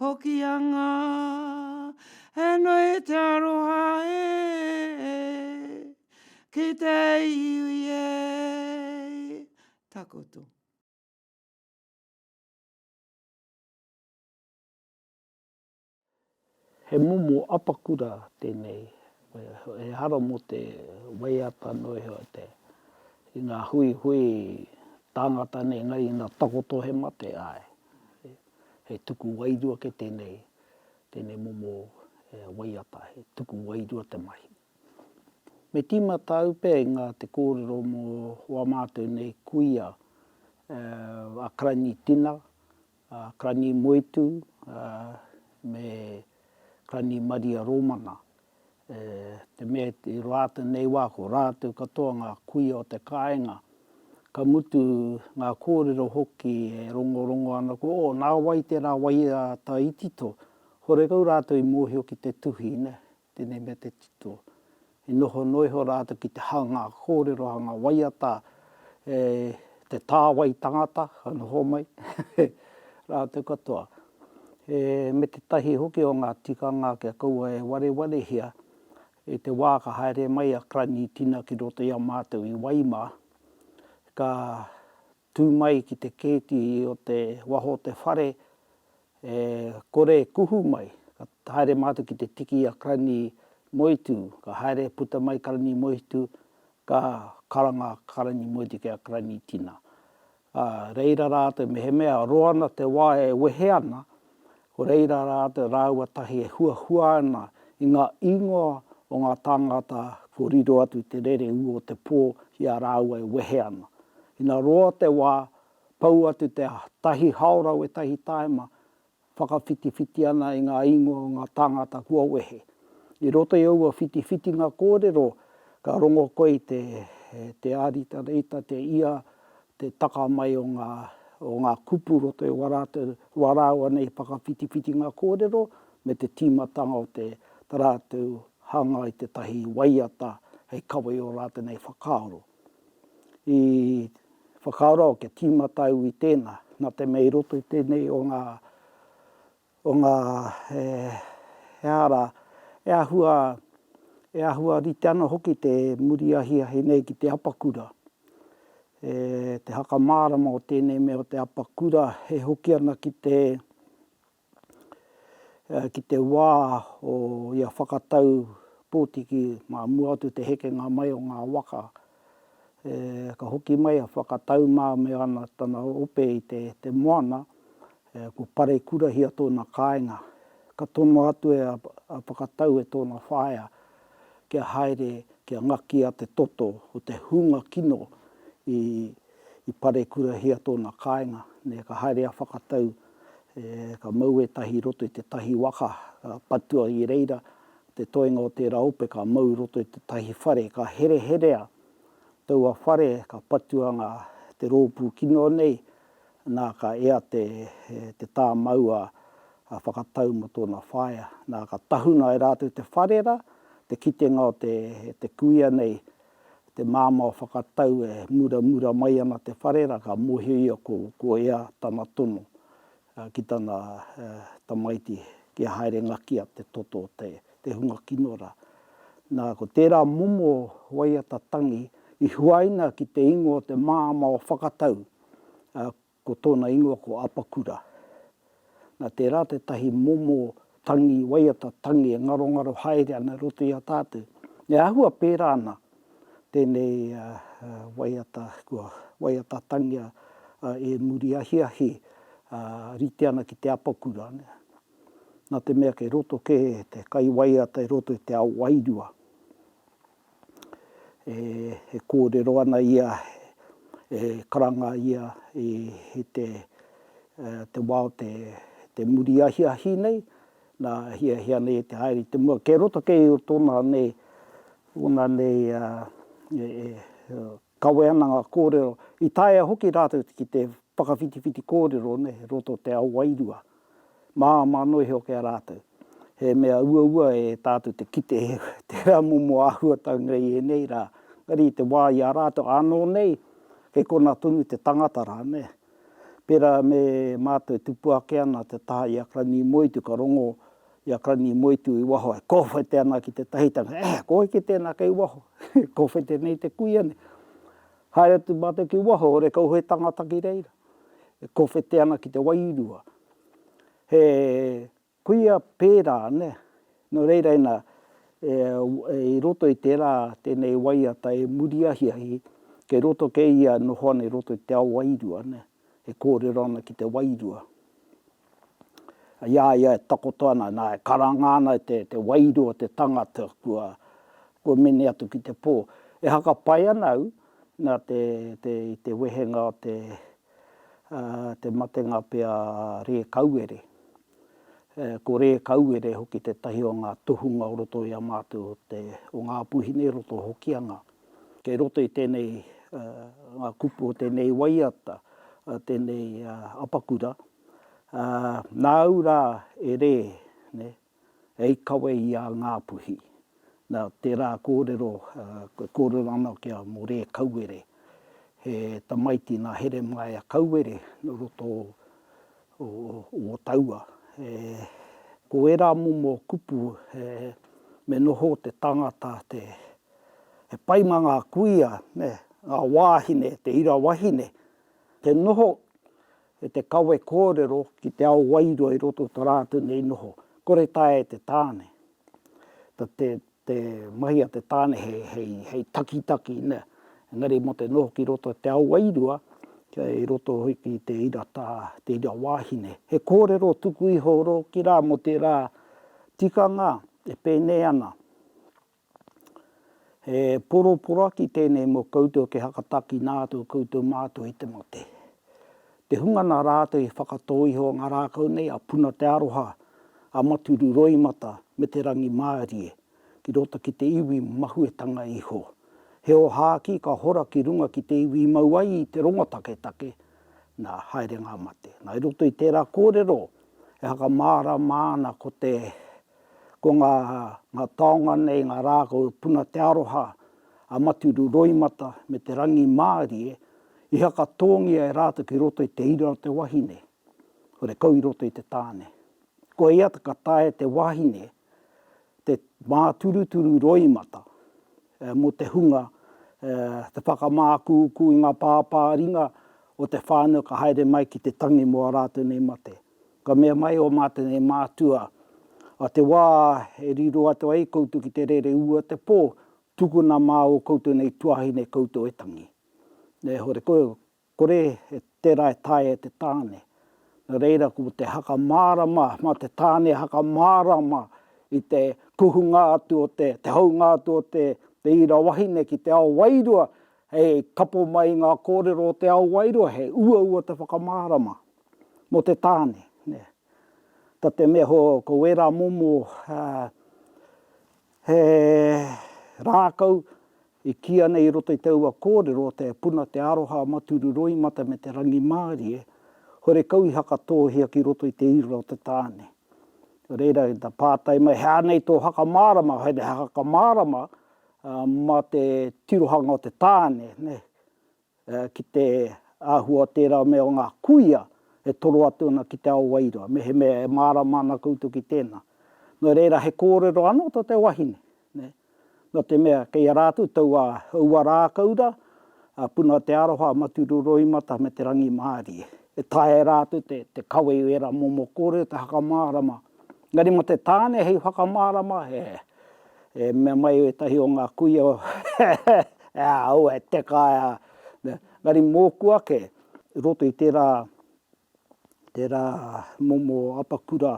Hokianga He nui te aroha e Ki te iwi e Takoto. He momo apakura tēnei ehara mō te waiata noa iho i ngā huihui tāngata nei engari ina takoto he mate, āe. He tuku wairua kē tēnei, tēnei momo waiata, he tuku wairua te mahi. Me tīma tāu pea i ngā te kōrero mō wā mātou nei kuia, a Karani Tina, a Karani Moetū, me Karani Maria Rōmana, E te mea i roa a tenei wa ko ratou katoa nga kuia o te kainga, ka mutu nga korero hoki e rongorongo ana ko o na wai tera wai a ta i tito, horekau ratou i mohio ki te tuhi ne, tenei me te tito. I noho no iho ratou ki te hanga korero hanga waiata e te ta wai tangata ka noho mai ratou katoa. He me tētahi hoki o ngā tikanga kia kaua e warewarehia i te wā ka haere mai a Krangi Tina ki roto i a mātou i Waimā, ka tū mai ki te kēti o te waho o te whare, e kore e kuhu mai, ka haere mātou ki te tiki i a Krangi Moetū, ka haere e puta mai Krangi Moetū, ka karanga Krangi Moetū ki a Krangi Tina. Ā reira rātou mehemea roa ana te wā e wehe ana, ko reira rātou rāua tahi e huahua ana i ngā īngoa o ngā tāngata kua riro atu te rere ū o te pō ki a rāua e wehe ana. Ina roa te wā, pau atu te tahi haora wētahi tāima, whakawhitiwhiti ana i ngā ingoa o ngā tāngata kua wehe. I roto i aua whitiwhitinga kōrero, ka rongo koe i te, te āritarita, te ia, te taka mai o ngā, o ngā kupu roto i wā rāua nei whakawhitiwhitinga kōrero, me te tīmatanga o te, tā rātou hanga i tētahi waiata hei kawe i ō rātou nei whakaaro. i whakaaro kia tīmata au i tēnā, nā te mea i roto i tēnei o ngā, o ngā, he, he ara e āhua, e āhua rite ana hoki te muri ahiahi nei ki te apakura, e, te hakamārama o tēnei mea o te apakura e hoki ana ki te, ki te wā o ia whakatau pōtiki mā mua atu te hekenga mai o ngā waka, ka hoki mai a Whakatau mā me ana tana ope i te moana, ko Parekurahia tōna kāinga. Ka tono atu e a Whakatau e tōna whaea kia haere kia ngakia te toto o te hunga kino i Parekurahia tōna kāinga. Ka haere a Whakatau Ka mau ētahi i roto i tētahi waka, ka patua i reira te toenga o tērā ope ka mau i roto i tētahi whare. Ka hereherea taua whare, ka patua ngā, te rōpū kino nei, nā, ka ea te, te tā maua whakatau mō tōna whaea. Nā, ka tahuna e rātou te whare rā, te kitenga o te, te kuia nei, te māmā o Whakatau e muramura mai ana te whare rā, ka mōhio ia ko, ko ea tana tono ki tana tamaiti kia haere ngakia te toto o te, te hunga kino rā. Nā, ko tērā momo waiata tangi i huaina ki te ingoa o te māmā o Whakatau, Ko tōna ingoa ko Apakura. Nā, tērā tētahi momo tangi, waiata tangi e ngarongaro haere ana i roto i a tātou. E āhua pērā ana tēnei waiata, kua waiata tangia e muri ahiahi, rite ana ki te apakura. Nā te mea kei roto kē te kai waiata i roto i te ao wairua. e kōrero ana ia, e karanga ia, i te wā o te muri ahiahi nei, nā, hiahia nei e te haere i te mua. Kei roto kē i tōna nei, ōna nei Kawe ana ngā kōrero, i taea hoki rātou ki te whakawhitiwhiti kōrero nei roto o te ao wairua. Māmā noa iho ki a rātou. He mea uaua e tātou te kite he tērā momo āhuatau nei i ēnei rā, engari i te wā i a rātou ānō nei, kei konā tonu te tangata rānei. Pērā me mātou e tupu ake ana te taha i a Kranī Moetū, ka rongo i a Kranī Moetū i waho e kōwhete ana ki te tahitanga, E! Ko heke tēnā kei waho? Kōwhete nei te kuia nei. Haere atu mātou ki waho, ore kau he tangata ki reira, e kōwhete ana ki te wairua. He Kuia pērā, nē. Nō reira ina, i roto i tērā tēnei waiata e muri ahiahi, kei roto kē ia e noho ana i roto i te ao wairua, nē, e kōrero ana ki te wairua. I a ia e takoto ana, nā, e karanga ana e te wairua o te tangata kua mene atu ki te pō. E haka pai ana au, nā, i te wehenga o te te matenga pea a Rēkauere. Ko Rēkauere hoki tētahi o ngā tohunga o roto i a mātou o Ngāpuhine, roto o Hokianga. Kei roto i tēnei ngā kupu o tēnei waiata, tēnei apakura, nāu rā e Rē, hei kawe i a Ngāpuhi. Nā, tērā kōrero, e kōrero ana ki a Morē Kauere, he tamaiti nā Heremaia Kauere nō roto o Ōtaua. Ko ērā momo kupu, me noho te tangata, he pai mā ngā kuia, ngā wāhine, te ira wahine, te noho E te kawe kōrero ki te ao wairua i roto o ta rātou nei noho. Kore taea e te tāne, ta te, te mahi a te tāne he, hei, hei takitaki, nē. Engari mo te noho ki roto i te ao wairua, kia i roto hoki i te ira ta, te ira wāhine. He kōrero tuku iho rōki rā mo tērā tikanga e pēnei ana He poroporaki tēnei mō koutou kia whakatakina atu koutou mātou i te mate. Te hunga nā rātou i whakatō iho o ngā rākau nei a Puna Te Aroha, a Maturu Roimata me Te Rangimārie ki roto ki te iwi mahuetanga iho. He ohākī ka hora ki runga ki te iwi i mau ai i te rongo taketake, nā, haere ngā mate. Nā, i roto i tērā kōrero e whakamārama ana ko te Ko ngā ngā taonga nei, ngā rā ko Puna Te Aroha, a Maturu Roimata me Te Rangimārie, i whakatōngia e rātou ki roto i te ira o te wahine, hore kau i roto i te tāne. Koia ka taea e te wahine te māturuturu roimata mō te hunga te whakamākūkū i ngā pāpāringa o te whānau ka haere mai ki te tangi mō ā rātou nei mate. Ka mea mai ō mātou e mātua, a te wā e riro atu ai koutou ki te rere ua te pō, tukuna mā ō koutou nei tuāhine koutou e tangi. E hore, ko, kore e tērā e taea e te tāne. Nō reira, ko te haka mārama, mā te tāne haka mārama i te kuhunga atu o te, te haunga atu o te, te ira wahine ki te ao wairua, hei kapo mai i ngā kōrero o te ao wairua, he uaua te whakamārama. Mō te tāne, nē. Ta te mea ho, ko wērā momo he rākau i kīa nei i roto i te ua kōrero, te puna, te aroha, maturu, roimata me te rangimārie, horekau i hakatōhia ki roto i te ira o te tāne. Nō reira, ta pātai mai, he aha nei tō hakamārama, he hakamārama mā te tirohanga o te tāne, nē. ki te āhua o tērā mea o ngā kuia e toro atu ana ki te ao wairua, mehemea e mārama ana koutou ki tēnā. Nō reira, he kōrero anō tō te wahine, nē. Nō te mea, kei a rātou taua ua rākau rā, a Puna Te Aroha, a Maturu Roimata me te rangimārie. E taea e rātou te kawe i ērā momo kōrero, te hakamārama Engari mo te tane hei whakamārama e mea mai etahi o nga kuia e a au e teka e a engari moku ake i roto i tera tera momo apakura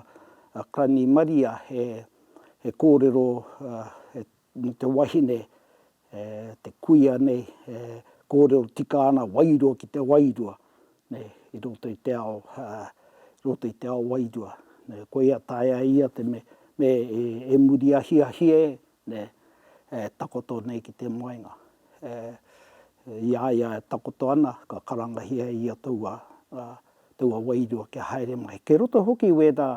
a Krani Maria he he korero he mō te wahine, te kuia nei, e kōrero tika ana wairua ki te wairua, nei, i roto i te ao, i roto i te ao wairua. Nei, koia taea ia te me, me e muri ahiahi e, nei, e takoto nei ki te moenga. I a ia e takoto ana, ka karangahia e ia taua, taua wairua kia haere mai. Kei roto hoki wērā,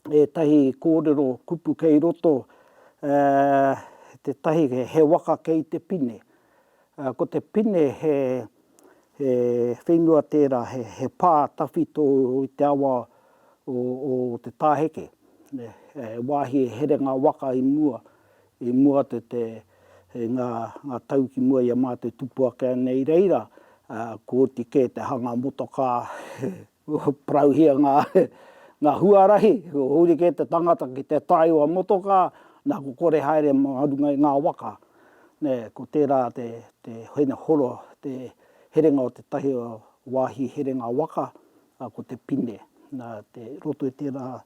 ētahi kōrero kupu kei roto, ā, tētahi he waka kei te pine. Ā, ko te pine he, he whenua tērā, he, he pā tawhito i te awa o, o te tāheke. He wāhi e here ngā waka i mua, i mua atu te, i ngā, ngā tau ki mua i a mātou tupu ake ana i reira, ā, ko oti kē te hanga motokā, Parauhia ngā huarahi, huri kē te tangata ki te tae o a motokā, nā ko kore haere mā runga i ngā waka. Ko tērā te hene horo, te herenga o tētahi o wāhi herenga waka, ko te pine. Nā te roto i tērā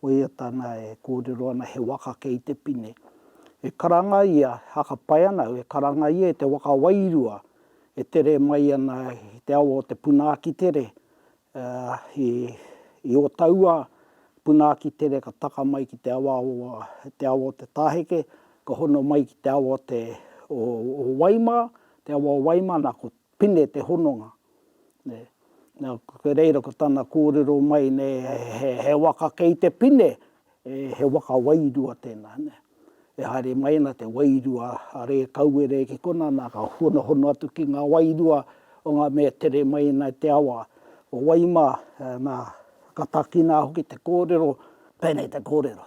waiata nā e kōrero ana he waka kei te pine. E karanga ia, hakapai ana au, e karanga ia i te waka wairua, e tere mai ana i te awa o te puna akitere, i ō taua puna akitere ka taka mai ki te awa o Te Tāheke, ka hono mai ki te awa o Waimā, te awa o Waimā, nā, ko Pine te hononga. Nā, reira ko tana kōrero mai, he waka kei te pine, E, he waka wairua tēnā, nē. E haere mai ana te wairua a Rēkauere ki konā, nā, ka honohono atu ki ngā wairua o ngā mea tere mai ana i te awa o Waima, nā, ka takina hoki te kōrero, pēnei te kōrero,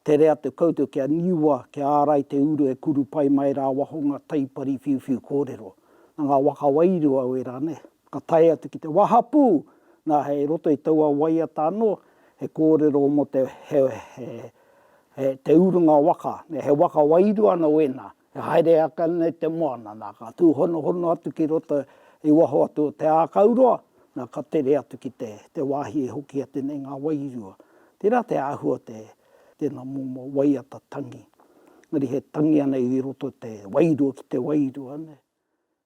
Tere atu koutou kia niua, kia ārai te uru e kuru pai mai rā waho ngā taipari whiuwhiu kōrero. Nā ngā waka wairua wērā, nē. Ka tae atu ki te wahapū, nā, hei roto i taua waiata anō, he kōrero mō te, he, he, he, te urunga waka, he waka wairua anō ēnā, e haere ake ana i te moana, nā, ka tūhonohono atu ki roto i waho atu o te ākauroa, nā, ka tere atu ki te, te wāhi e hoki atu nei ngā wairua. Tērā te āhua o te, tēnā momo waiata tangi. Engari he tangi anei i roto te wairua ki te wairua, nē.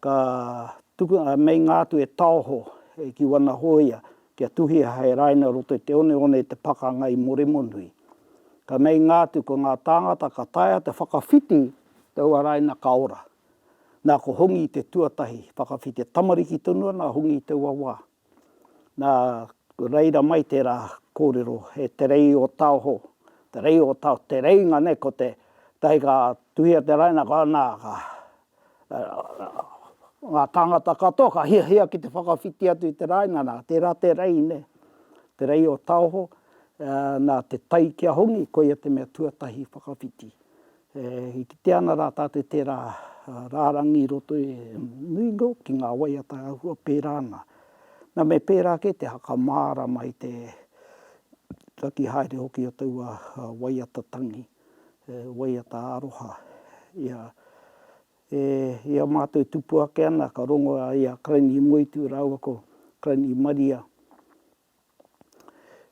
ka tuku, ā, meinga atu e taoho, e ki wana hōia, kia tuhia hei raina roto i te oneone i te pakanga i Moremonui. Ka meinga atu ko ngā tāngata ka taea te whakawhiti taua raina ka ora. Nā ko Hongi te tuatahi whakawhiti, tamariki tonu ana a Hongi i taua wā. Nā reira mai tērā kōrero, he Te Rei o Taoho, Te Rei o Taoho, te reinga nei ko te tahi ka tuhia te raina ka nā ka ngā tāngata katoa ka hiahia ki te whakawhiti atu i te raina nā tērā te rei nei, Te Rei o Taoho, nā te tai ki a Hongi koia te mea tuatahi whakawhiti. E kitea ana rā tātou tērā rārangi i roto i nui noa ki ngā waiata huhua pērā ana. Nā, me pērā kē te whakamārama i te raki haere hoki o taua waiata tangi, waiata aroha. Ia, e ia mātou e tupu ake ana, ka rongo ia Karaini Moetū rāua ko Karaini Maria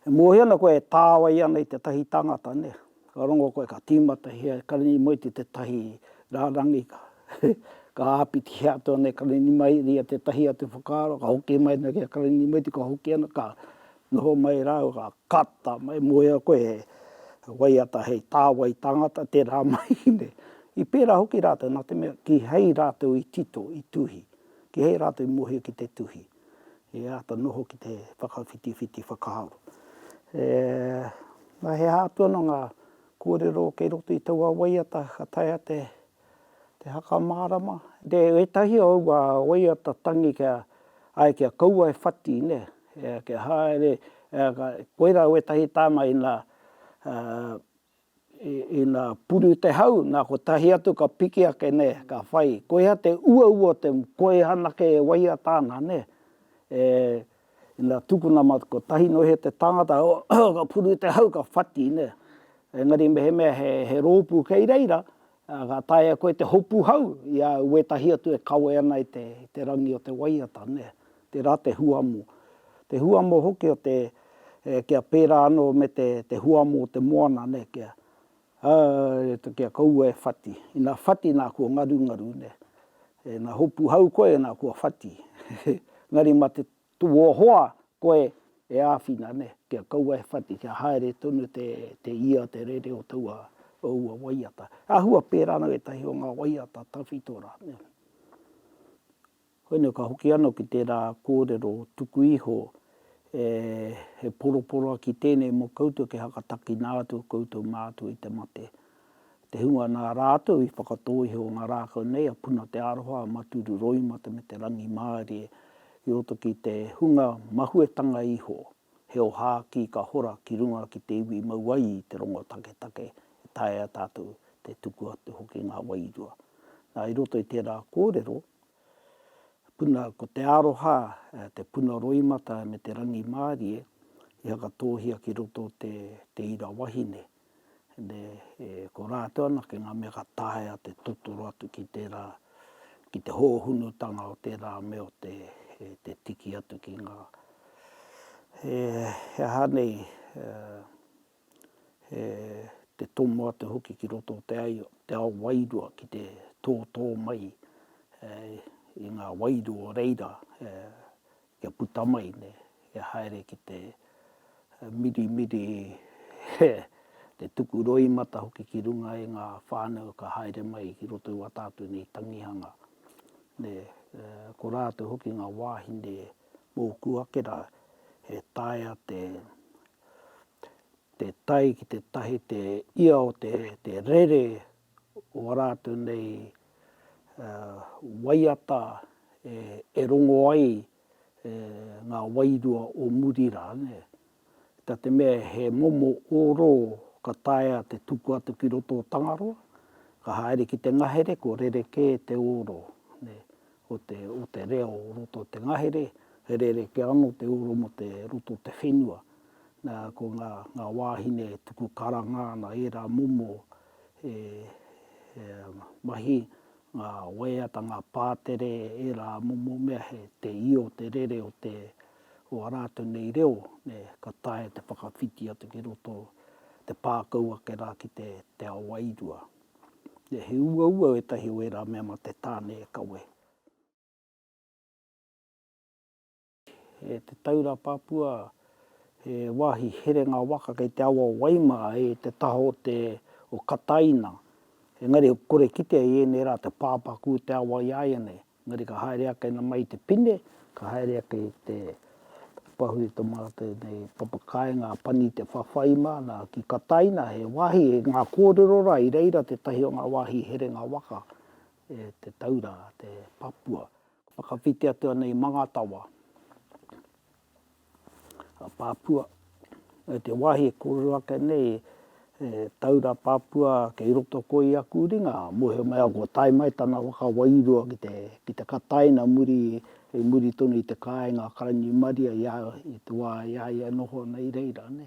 E mōhio ana koe e tāwai ana i tētahi tangata, nē? Ka rongo koe, ka tīmata he karinimoiti i tētahi rārangi, ka āpitihia atu ana e Karinimaieri ia tētahi atu whakaaro, ka hoki mai ana ki a Karinimoeti, ka hoki ana, ka noho mai rāua, ka kata mai. E mōhio ana koe he waiata hei tāwai tangata tērā mahi, nē? I pērā hoki rātou nā te mea kīhai rātou i tito, i tuhi, kīhai rātou i mōhio ki te tuhi. i āta noho ki te whakawhitiwhiti whakaaro. E, nā, he aha atu ana ngā kōrero kei roto i taua waiata ka taea te, te haka mārama? Te, ētahi o aua waiata tangi kia, ai, kia kaua e whati, nē, kia haere, koirā wētahi tānga ina, Ina puru te hau, na kotahi atu ka piki ake ne, ka whai. Koia te uaua o te moa. Koia anake e waiata ana ne. Ina tukuna ma kotahi no he te tangata, ka puru te hau ka whati ne. Engari mehemea he ropu kei reira, Ā, ka taea koe te hopu hau i a au wētahi atu e kawe ana i te, i te rangi o te waiata, nē, tērā te huamo. Te huamo hoki o te, e, kia pērā anō me te, te huamo o te moana, nē, kia, ā, kia kaua e whati. Ina whati, nā, kua ngarungaru, nē. Ina hopu hau koe, nā, kua whati. Engari mā te Tuohoa koe e āwhina ne, kia kaua e whati, kia haere tonu te, te ia, te rere o taua, o ua waiata. Āhua pērā ana wētahi o ngā waiata tawhito rā, nē. Koinei ka hoki anō ki tērā kōrero tuku iho, e, he poroporoaki tēnei mō koutou kia whakatakina atu koutou mātua i te mate. te hunga nā rātou i whakatō iho o ngā rākau nei a Puna Te Aroha, a Maturu Roimata me te rangimārie i roto ki te hunga mahuetanga iho, he ohākī ka hora ki runga ki te iwi mau ai i te rongo taketake e taea tātou te tuku atu hoki ngā wairua. Nā, i roto i tērā kōrero, puna, ko Te Aroha, te puna roimata me te rangimārie i whakatōhia ki roto te ira wahine. Nē, e kora atu ana ki ngā mea ka taea te totoro atu ki tērā, ki te hōhunutanga o tērā mea o te tiki atu ki ngā, he aha nei, he te tomo atu hoki ki roto o te ao wairua ki te tōtō mai i ngā wairua o reira Kia puta mai ne, kia haere ki te mirimiri he te tuku roimata hoki ki runga e nga whanau ka haere mai ki roto i wa tatu nei tangihanga ne, ko ratou hoki nga wahine moku ake ra he taea te te tai ki te tahi te ia o te rere o a rātou nei waiata e rongo ai ngā wairua o muri rā, tā te mea he momo ōrō ka taea te tuku atu ki roto o Tangaroa, ka haere ki te ngahere kua rerekē te ōrō o te reo o roto o te ngahere, he rerekē anō te ōrō mō te roto o te whenua. Nā, ko ngā wāhine e tuku karanga ana ērā momo He mahi ngā waiata, ngā pātere, ērā momo mea, he te io, te rere o te, o a rātou nei reo, nē, ka taea te whakawhiti atu ki roto, te pākau ake rā ki te, te ao wairua. Nē, he uaua ētahi o ērā mea mā te tāne e kawe. E te Taura Papua, he wāhi herenga waka kei te awa o Waima, e te taha o te o Kataina. Engari he kore kitea i ēnei rā te pāpaku o te awa i āianei. Engari ka haere ake na mai i te pine, ka haere ake i te pahu i te mara tēnei papa kāinga a Pani te whawhai māna ki Kataina, he wāhi, he ngā kōrero rā i reira tētahi o ngā wāhi herenga waka e te Taura, te Papua. Whakawhiti atu ana i Mangatawa, a Papua, me te wahi e korero ake nei e Taura Papua kei roto koi aku ringa, mohe mai aku tae mai tana waka wairua ki te ki te Kataina muri i muri tonu i te kainga a Karaniumaria i a i te wa i a ia e noho ana i reira ne.